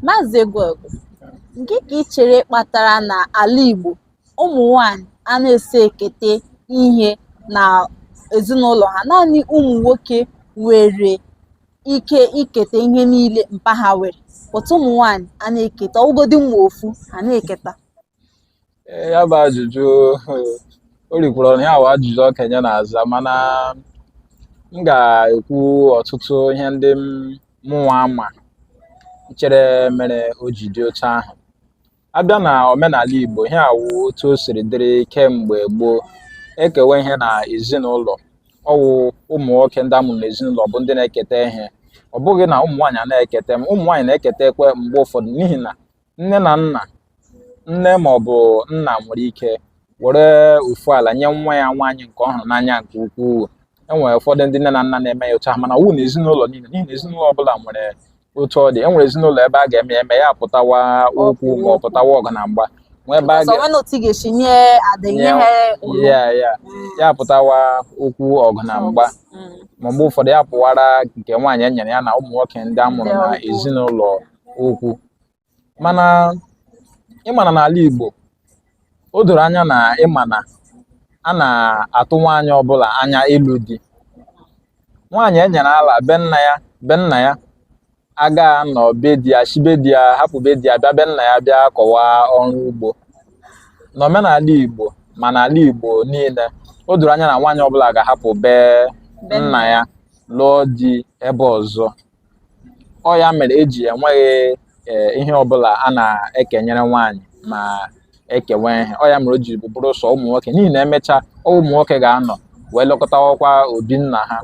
Maazị Egwuegwu, gịnị ka ị chere kpatara na ala Igbo ụmụ nwanyị anaghị ekete ihe na ezinụlọ ha naanị ụmụ nwoke nwere ike iketa ihe niile mpa ha nwere but ụmụ nwanyị anaghị eketa ọwụgodi ma ofu ha anaghị eketa ya bụ ajụjụ o rikwuru ọnụ ihe a wụ ajụjụ okenye na-aza mana m ga-ekwu ọtụtụ ihe ndị mụnwa ama chere mere o ji dị otu ahụ abịa na omenala Igbo ihe a wụ otu o siri dịrị kemgbe gboo ekewe ihe na ezinụlọ ọwụ ụmụ nwoke ndị amụrụ n'ezinụlọ bụ ndị na-eketa ihe ọ bụghị na ụmụ nwaanyị anaghị eketa ụmụ nwaanyị na-eketakwa mgbe ụfọdụ n'ihi na nne na nna nne ma ọ bụ nna nwere ike were ofu ala nye nwa ya nwaanyị nke ọ hụrụ n'anya nke ukwuu enwere ụfọdụ ndị nne na nna na-eme ya otu ahụ mana ọwụghị na ezinụlọ niile n'ihi na ezinụlọ ọbụla nwere otu ọ dị enwere ezinụlọ ebe a ga-eme ya eme ya pụtawa okwu ma ọ pụtawa ọgụ na mgba nwee ebe a ga ya ya ya pụtawa okwu ọgụ na mgba mm. ma mgbe ụfọdụ ya pụwara nke nwaanyị e nyere ya na ụmụ nwoke ndị a mụrụ na ezinụlọ okwu mana ịmana n'ala Igbo o doro anya na ịmana a na-atụ nwaanyị ọbụla anya ịlụ di nwaanyị e nyere ala be nna ya be nna ya ga-anọ be di ya shi be di ya hapụ be di ya bịa be nna ya bịa kọwa ọrụ ugbo n'omenala Igbo ma n'ala Igbo niile o doro anya na nwaanyị ọbụla ga-ahapụ be nna ya lụọ di ebe ọzọ ọ ya mere eji enweghị eh, ihe ọbụla a na-ekenyere nwaanyị ma ekewe ihe ọ ya mere o ji bụrụ sọ ụmụ nwoke n'ihi na emechaa ọwụ ụmụ nwoke ga-anọ wee lekọtawakwa obi nna ha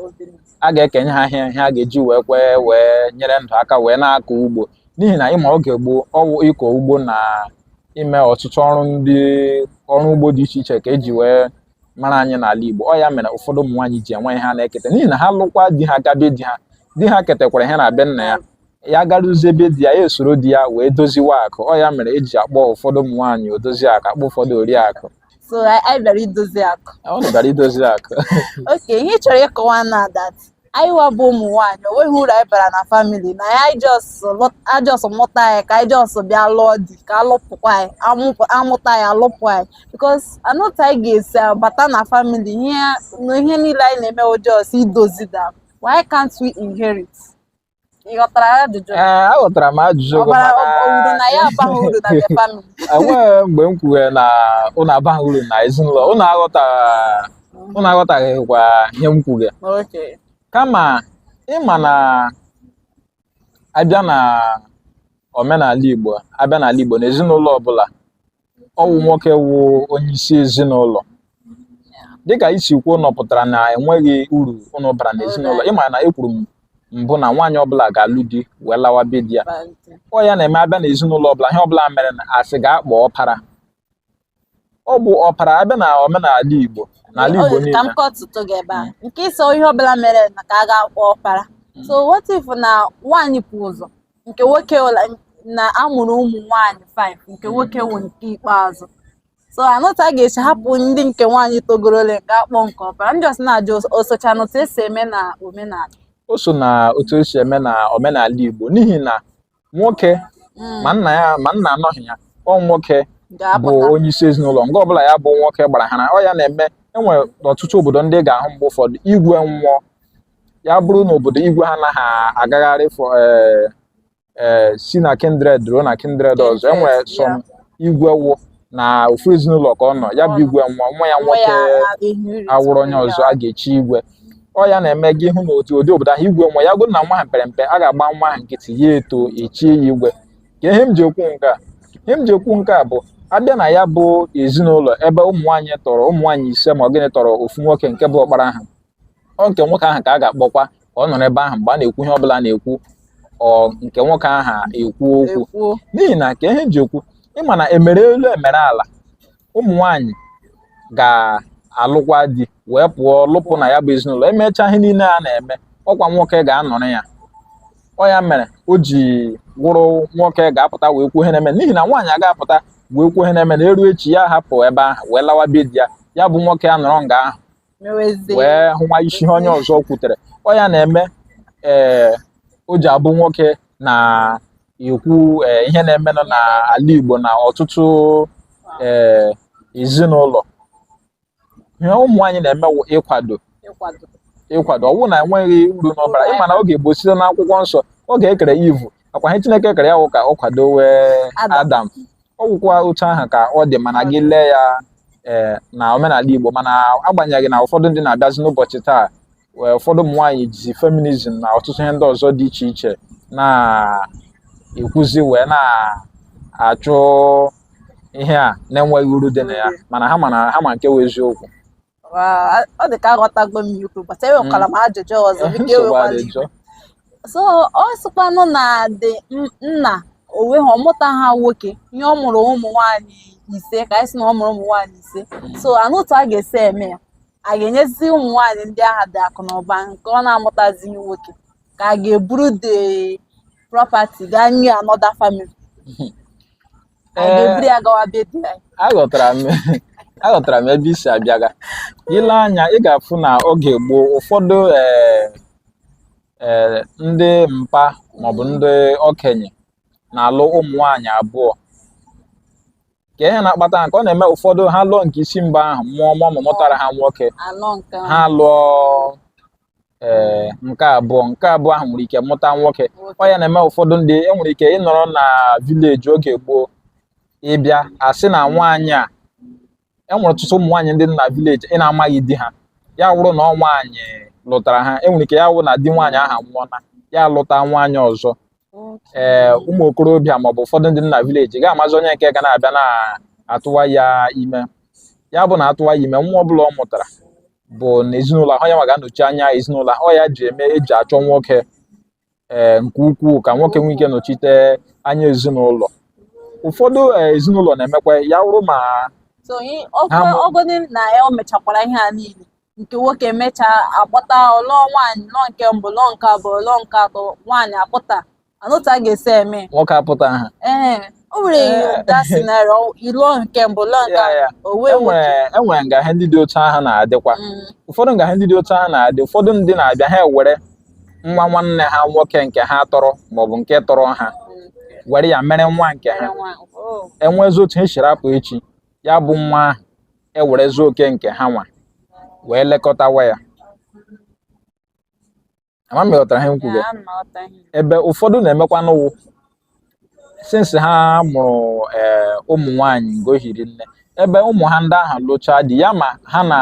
a ga-ekenye ha ihe ihe a ga-eji wee kwee wee nyere ndụ aka wee na-akọ ugbo n'ihi na ịma oge gboo ọwụ ịkọ ugbo na ime ọtụtụ ọrụ ndị ọrụ ugbo dị iche iche ka eji wee mara anyị n'ala Igbo ọ ya mere ụfọdụ ụmụ nwaanyị ji enweghị ihe ha na-eketa n'ihi na ha lụkwa di ha gaa be di ha di ha ketekwara ihe na be nna ya ya garuzie be di ya ya esoro di ya wee doziwa akụ ọ ya mere eji akpọ ụfọdụ ụmụ nwaanyị odozi akụ akpọ ụfọdụ oriakụ so anyị bịara idozi akụ ọ bịara idozi akụ okay ihe ị chọrọ ịkọwa na that anyịwa bụ ụmụ nwaanyị o nweghị uru anyị bara na family na a just mụta anyị ka anyị just bịa lụọ di ka alụpụkwa anyị amụta anyị alụpụ anyị because anụta anyị ga-esi bata na family ihe niile anyị na-eme wụ just idozi that why can't we inherit Ị ghọtara ajụjụ? ee aghọtara m ajụjụ Ọ gị bara mana o- uru na ya abaghị uru na the family. enweghị mgbe m kwuwe na ụnụ abaghị uru na ezinụlọ ụnụ aghọtara ụnụ aghọtaghịkwa ihe m kwuge Okay. kama ịma na abịa na omenala igbo abịa n'ala igbo na ezinụlọ ọbụla ọwụ nwoke wụ onye isi ezinụlọ dịka i si kwuo na ọ pụtara na enweghị uru ụnụ bara n'ezinụlọ ịma na ekwuru m mbụ na nwaanyị ọbụla ga-alụ di wee lawa be di ya ọ ya na-eme abịa n'ezinụlọ ọbụla ihe ọbụla mere na asị ga-akpọ ọpara ọ bụ ọpara abịa na omenala Igbo n'ala Igbo Ozi ka m niile kọtụtụ gị ebe a nke ị sị ihe ọbụla mere na ka a ga-akpọ ọkpara so what if na nwaanyị pụ ụzọ nke nwoke na amụrụ ụmụ nwaanyị 5 nke nwoke wụ nke ikpeazụ so anụta a ga-esi hapụ ndị nke nwaanyị togorole nke akpọ nke ọpara ndị ọsị na-ajụ o socha na otu esi eme na omenala o so na otu esi eme na omenala Igbo n'ihi na nwoke mm. ma nna ya ma nna anọghị ya ọ nwoke bụ onye isi ezinụlọ nga ọbụla ya bụ nwoke gbara ha na ọ ya na-eme enwere ọtụtụ obodo ndị ị ga-ahụ mgbe ụfọdụ igwe nwụọ ya bụrụ na obodo igwe ha anaghị agagharị fọ eh, eh, si na kindred ruo na kindred ọzọ enwe some igwe wụ na ofu ezinụlọ ka ọ nọ ya bụ igwe nwụọ nwa ya nwoke awụrụ onye ọzọ a ga-echi igwe ọ ya na-eme gị hụ na otu ụdị obodo ahụ igwe nwụọ ya bụrụ na nwa ahụ pere mpe a ga-agba nwa ahụ nkịtị ya eto echie ya igwe ka ihe m ji ekwu nke a ihe m ji ekwu nke a bụ abịa na ya bụ ezinụlọ ebe ụmụ nwaanyị tọrọ ụmụ nwaanyị ise ma ọ gịnị tọrọ ofu nwoke nke bụ ọkpara ha ọ nke nwoke ahụ ka a ga-akpọkwa ka ọ nọrọ ebe ahụ mgbe a na-ekwu ihe ọbụla na-ekwu ọ nke nwoke ahụ ekwu okwu n'ihi na ka ihe ji ekwu ịma na emere elu emere ala ụmụ nwanyị ga-alụkwa di wee pụọ lụpụ na ya bụ ezinụlọ emechaa ihe niile a na-eme ọkwa nwoke ga-anọrọ ya ọ ya mere o ji wụrụ nwoke ga-apụta wee kwuo ihe na-eme n'ihi na nwaanyị aga-apụta wee kwuo ihe na-eme na eru echi ya hapụ ebe ahụ wee lawa be di ya ya bụ nwoke a nọrọ nga ahụ N'ezie. wee hụwa isi ihe onye ọzọ kwutere ọ ya na-eme ee o ji abụ nwoke na-ekwu ee, ihe na-emenụ n'ala Igbo na ọtụtụ ee ezinụlọ ihe ụmụ nwaanyị na-eme wụ ịkwado Ịkwado. ịkwado ọwụ na enweghị uru ụnụ bara ịma na oge gboo site n'akwụkwọ nsọ oge ekere Eve ọkwa ihe Chineke kere ya wụ ka ọ kwadowe Adam. Adam ọ wụkwa otu ahụ ka ọ dị mana gị lee ya ee eh, na omenala Igbo mana agbanyeghị na ụfọdụ ndị na-abịazi n'ụbọchị taa wee ụfọdụ ụmụ nwaanyị jizi feminism na ọtụtụ ihe ndị ọzọ dị iche iche na-ekwuzi wee na-achụ ihe a na-enweghị uru dị na ya mana ha ma nke wụ eziokwu ọ dị ka aghọtago m ikwu but enwekwara m ajụjụ ọzọ biko ewekwala iwe so ọ sịkwanụ na dị nna onwe ha ọ mụtaha nwoke ihe ọ mụrụ ụmụ nwaanyị ise ka anyị sị na ọ mụrụ ụmụ nwaanyị ise so anụ otu a ga-esi eme ya a ga-enyezi ụmụ nwaanyị ndị aha the akụ na ụba nke ọ na-amụtazi nwoke ka a ga-eburu the property gaa nye another family aghọtara m aghọtara m ebe i si abịaga i lee anya ị ga-afụ na oge gboo ụfọdụ ee eh, eh, ndị mpa maọbụ ndị okenye na-alụ ụmụ nwaanyị abụọ ka ihe na-akpata nke ọ na-eme ụfọdụ ha lụọ nke isi mbụ ahụ mụọ mụọ mụtara ha nwoke ha lụọ ee eh, nke abụọ nke abụọ ahụ nwere ike mụta nwoke ọ ya na-eme ụfọdụ ndị enwere ike ịnọrọ na vileji oge gboo ị bịa a sị na nwaanyị a enwere ọtụtụ ụmụ nwaanyị dị na vileji ị na-amaghị di ha ya wụrụ na ọ nwaanyị lụtara ha enwere ike ya wụ na di nwaanyị aha nwụọla ya lụta nwaanyị ọzọ ee eh, ụmụ okorobịa maọbụ ụfọdụ ndị na vileji ga-amazi onye nke ga na-abịa na-atụwa ya ime ya bụ na a tụwa ya ime nwa ọ bụla ọ mụtara bụ na ezinụlọ ahụ ya nwa ga-anọchi anya ezinụlọ ahụ ọ ya ji eme eji achọ nwoke ee eh, nke ukwuu ka nwoke nwee ike nọchite anya ezinụlọ ụfọdụ eh, ezinụlọ na-emekwa ya wụrụ ma ọgọdị na ya o mechakwara ihe a niile nke nwoke mechaa apụta ọ lụọ nwaanyị lụọ nke mbụ lụọ nke abụọ lụọ nke atọ nwaanyị apụta anụ otu a ga-esi eme nwoke apụtaha ee o nwere eh. that scenario ị lụọ nke mbụ lụọ nke enwere nga ihe ndị dị otu ahụ na-adịkwa mm. ụfọdụ nga ihe ndị dị otu ahụ na-adị ụfọdụ ndị na-abịa ha ewere nwa nwanne ha nwoke nke ha tọrọ maọbụ nke tọrọ ha were ya mere nwa nke ha oh. enwezi otu ha siri apụ echi ya bụ nwa ahụ ewerezi oke nke ha nwa wee lekọtawa ya ama m ị ghọtara ihe m kwuru Ya, ana aghọta ihe. ebe ụfọdụ na-emekwa na ọ wụ since ha mụrụ ee, ụmụ nwaanyị nga o hiri nne ebe ụmụ ha ndị ahụ lụchaa di ya ma ha na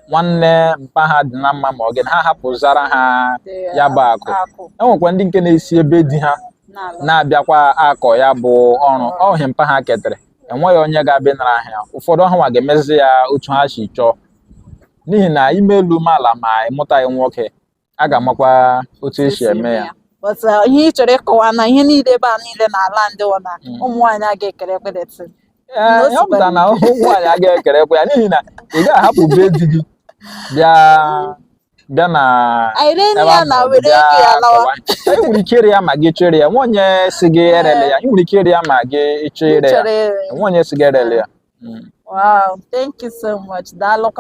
nwanne mpa ha dị na mma ma ọ gịnị ha hapụzara ha Dị, ya bụ akụ akụ enwekwa ndị nke na-esi ebe di ha na-ala. na-abịakwa akọ ya bụ ọrụ ọhịa mpa ha ketere enweghị onye ga-abịa nara ha ya ụfọdụ ọ ha nwa ga-emezi ya otu ha si chọọ n'ihi na i mee elu mee ala ma ị mụtaghị nwoke a ga-amakwa otu esi eme ya but uh, ihe ị chọrọ ịkọwa na ihe niile ebe a niile na ala ndị wụ na Mm. ụmụ nwaanyị a ga-ekere property Ee, N'otu ihe ọ pụtara na ụmụ nwaanyị agaghị ekerekwa ya n'ihi na ị gaghị ahapụ be di gị bịa bịa na ị nwere ike ire ya ma gị chọọ ire ya nwe onye sị gị erele ya ị nwere ike ire ya ma gị chọọ ire ya nwe onye sị gị erele ya Wow, thank you so much. Daalụ.